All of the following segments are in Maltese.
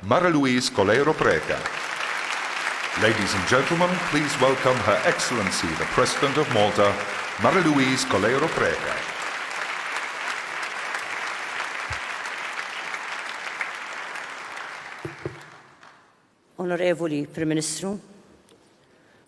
Mara Louise Coleiro Preca. Ladies and gentlemen, please welcome Her Excellency the President of Malta, Mara Louise Coleiro Preca. Onorevoli Prim Ministru,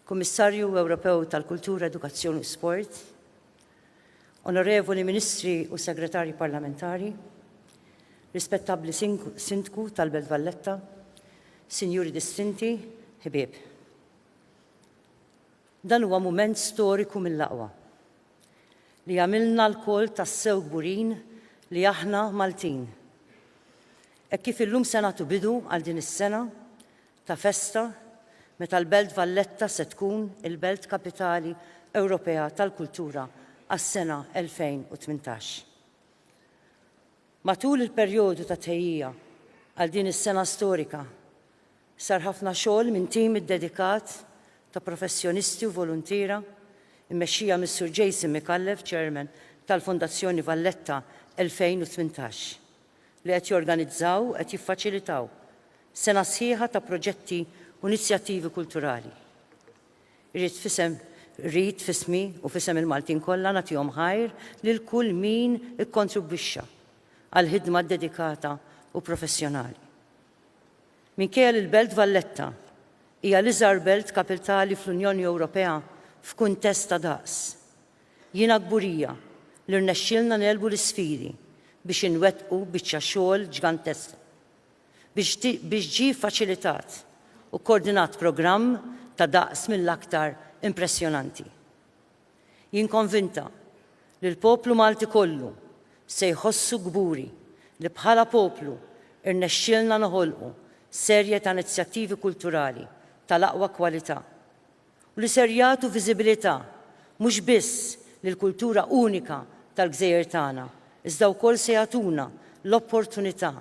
Kummissarju Ewropew tal-Kultura, Edukazzjoni u Sport, Onorevoli Ministri u Segretarji Parlamentari, rispettabbli Sindku tal-Belt Valletta, Sinjuri distinti, ħbieb. Dan huwa mument storiku mill-aqwa li għamilna l-koll tassew gburin li aħna Maltin. Hekk kif illum se nagħtu bidu għal din is-sena ta' festa meta l-Belt Valletta se tkun il-Belt Kapitali Ewropea tal-Kultura għas-sena 2018. Matul il-perjodu ta' tħejjija għal din is-sena storika sar ħafna xogħol minn tim iddedikat ta' professjonisti u voluntiera mmexxija mis-Sur Jason Micallef, Chairman tal-Fondazzjoni Valletta 2018. li qed jorganizzaw u qed jiffaċilitaw sena sħiħa ta' proġetti u inizjattivi kulturali. Irrid f'isem rrid f'ismi u f'isem il-Maltin kollha nagħtihom ħajr lil kull min ikkontribwixxa għall-ħidma ddedikata u professjonali. Minkejja li l-Belt Valletta hija l-iżgħar belt kapiltali fl-Unjoni Ewropea f'kuntest ta' daqs, Jiena kburija li rnexxielna negħlbu l-isfidi biex inwettqu biċċa xogħol ġgantesqa, biex ġie ffaċilitat u kkoordinat programm ta' daqs mill-aktar impressjonanti. Jien konvinta li l-poplu Malti kollu se jħossu kburi li bħala poplu rnexxielna noħolqu serje ta' inizjattivi kulturali tal-aqwa kwalità, u li ser jagħtu viżibilità mhux biss lill-kultura unika tal-gżejjer tagħna iżda wkoll se jagħtuna l-opportunità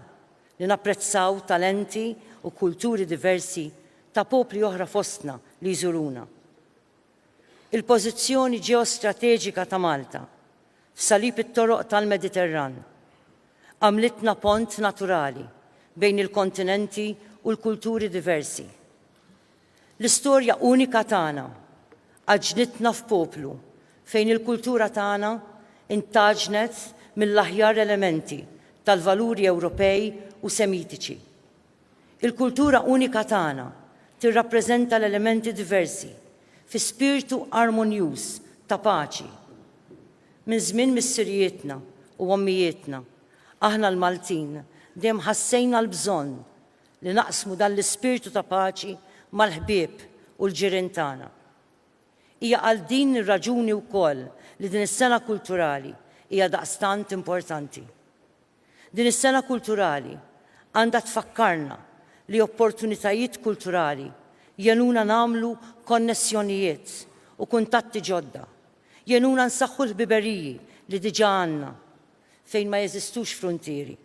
li napprezzaw talenti u kulturi diversi ta' popli oħra fostna li jżuruna. Il-pożizzjoni ġeostrateġika ta' Malta f'salib it-toroq tal-Mediterran għamlitna pont naturali bejn il-kontinenti u l-kulturi diversi. L-istorja unika tagħna għaġġnitna f'poplu fejn il-kultura tagħna ntgħaġnet mill-aħjar elementi tal-valuri Ewropej u Semitiċi. Il-kultura unika tagħna tirrappreżenta l-elementi diversi fi spirtu armonjuż ta' paċi. Minn żmien missirijietna u ommijietna, aħna l-Maltin dejjem ħassejna l-bżonn li naqsmu dan l-ispirtu ta' paċi mal-ħbieb u l-ġirien tagħna. Hija għal din ir-raġuni wkoll li din is-Sena Kulturali hija daqstant importanti. Din is-Sena Kulturali għandha tfakkarna li opportunitajiet kulturali jgħinuna nagħmlu konnessjonijiet u kuntatti ġodda, jgħinuna nsaħħu l-ħbiberiji li diġà għandna fejn ma jeżistux fruntieri,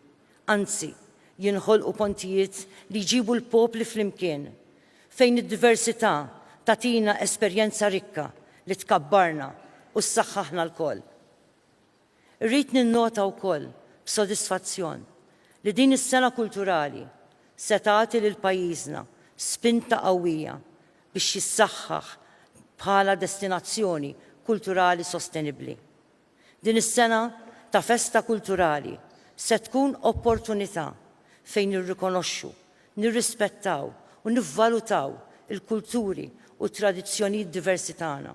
anzi, jinħolqu pontijiet li jġibu l-popli flimkien, fejn id-diversità tagħtina esperjenza rikka li tkabbarna u ssaħħaħna lkoll. Irrid ninnota wkoll b'sodisfazzjon li din is-Sena Kulturali se tagħti lil pajjiżna spinta qawwija biex jissaħħaħ bħala destinazzjoni kulturali sostenibbli. Din is-sena ta' festa kulturali se tkun opportunità fejn nirrikonoxxu, nirrispettaw u nivvalutaw il-kulturi u t-tradizzjonijiet diversi tagħna.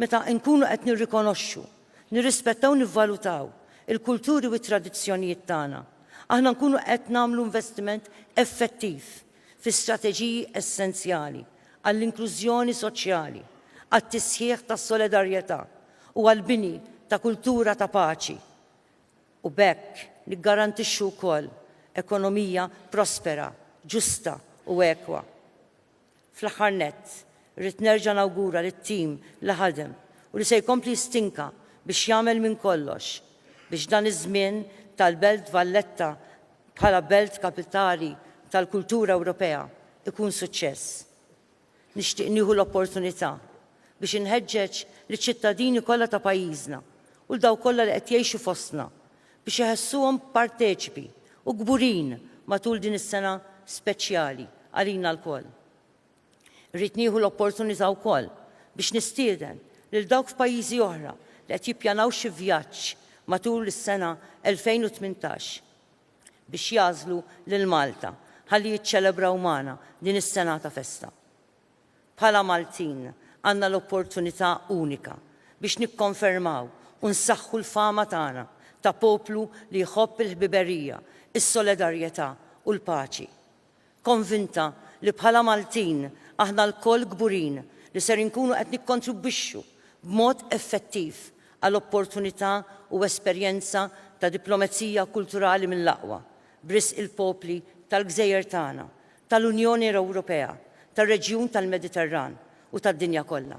Meta nkunu qed nirrikonoxxu, nirrispettaw u nivvalutaw il-kulturi u t-tradizzjonijiet tagħna, aħna nkunu qed nagħmlu investiment effettiv fi strateġiji essenzjali għall-inklużjoni soċjali, għat-tisħiħ tas-solidarjetà, u għall-bini ta' kultura ta' paċi u b'hekk niggarantixxu wkoll ekonomija prospera, ġusta u ekwa. Fl-aħħar nett, irrid nerġa' nawgura lit-tim li ħadem u li se jkompli jistinka biex jagħmel minn kollox biex dan iż-żmien tal-Belt Valletta bħala Belt Kapitali tal-Kultura Ewropea jkun suċċess. Nixtieq nieħu l-opportunità biex inħeġġeġ liċ-ċittadini kollha ta' pajjiżna u 'l dawk kollha li qed jgħixu fostna biex iħessuhom parteċipi u kburin matul din is-sena speċjali għalina lkoll. Irrid nieħu l-opportunità wkoll biex nistieden lil dawk f'pajjiżi oħra li qed jippjanaw xi vjaġġ matul is-sena 2018, biex jagħżlu lil Malta ħalli jiċċelebraw magħna din is-sengħa ta' festa. Bħala Maltin għandna l-opportunità unika biex nikkonfermaw u nsaħħu l-fama tagħna ta' poplu li jħobb il-ħbiberija, is-solidarjetà u l-paċi. konvinta li bħala Maltin aħna lkoll kburin li ser inkunu qed nikkontribwixxu b'mod effettiv għal opportunità u esperjenza ta' diplomezija kulturali mill-aqwa, b'risq il-popli tal-gżejjer tagħna, tal-Unjoni Ewropea, tar-reġjun tal-Mediterran u tad-dinja kollha.